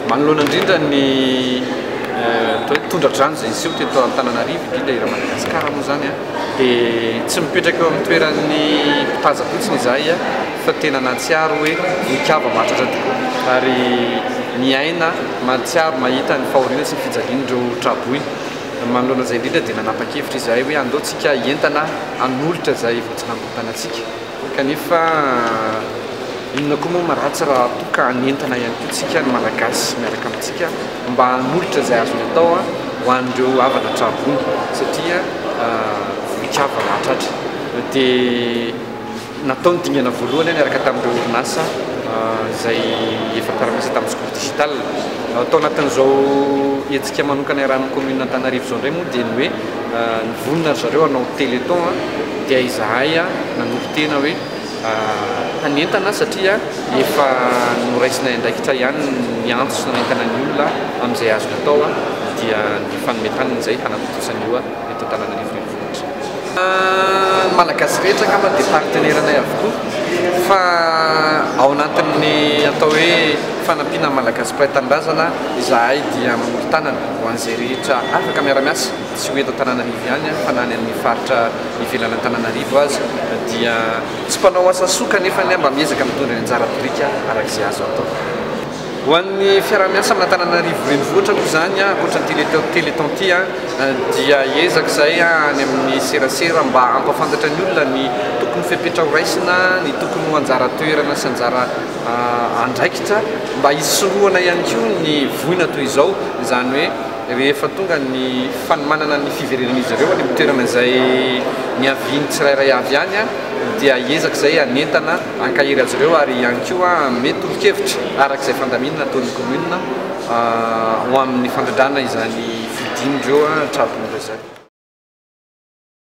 Manoloana indrindra ny tondra-drano izay niseho teto Antananarivo, indrindra eran'i Madagasikara moa izany, dia tsy mipetraka eo amin'ny toeran'ny mpitàza fotsiny izahay fa tena nahatsiaro hoe nikava maharitra tokoa ary miaina, mahatsiaro, mahita ny fahoriana sy ny fijalian'ireo tra-boina. Manoloana izay indrindra dia nanapa-kevitra izahay hoe andao tsika hientana hanolotra izay voatsinantontanantsika. Kanefa inona koa moa maratsy raha toa ka hanentana ihany koa tsika ny Malagasy miaraka amintsika mba hanolotra izay azony atao ho an'ireo havana trarony satria mikava mahatratra dia natao ny dingana voalohany niaraka tamin'ireo orinasa izay efa tarmisa tamin'ny sekoly digital. Tao anatin'izao hetsika manokana iarahan'ny commune Antananarivo izao indray moa dia ny hoe Nivonona ry zareo hanao téléthon dia izahay nanompo tena hoe hanentana satria efa noraisinay andraikitra ihany ny antso nanentana ny olona amin'izay azony atao dia ny fanome tany ny izay hanatontosan io eto Antananarivo Renivohitra. Ny Malagasy rehetra angamba dia partenaire anay avokoa fa ao anatin'ny atao hoe fanampiana ny Malagasy mpiray tanindrazana izahay dia mori-tanana. Ho an'izay rehetra afaka miara-miasa, tsy ho eto Antananarivo ihany fa na any amin'ny faritra ivelan' Antananarivo aza, dia tsy mpanao asa soa kanefa mba miezaka mitondra ny anjara biriky araka izay azo atao. Ho an'ny fiaraha-miasa amin' Antananarivo Renivohitra moa izany, ankoatra ny Téléthon ity, dia hiezaka izahay any amin'ny serasera mba hampahafantatra ny olona ny tokony fepetra horaisina, ny tokony ho anjara toerana sy anjara andraikitra mba hisorohana ihany koa ny voina toy izao, izany hoe rehefa tonga ny fanomanana ny fiverenan'izy ireo any amin'ny toerana izay niavian'ny tsirairay avy any dia hiezaka izay hanentana hankahery azy ireo ary ihany koa hanome tolo-kevitra araka izay fandaminana ataon'ny commune ho amin'ny fandrindrana izany fodian'ireo tra-boina izany.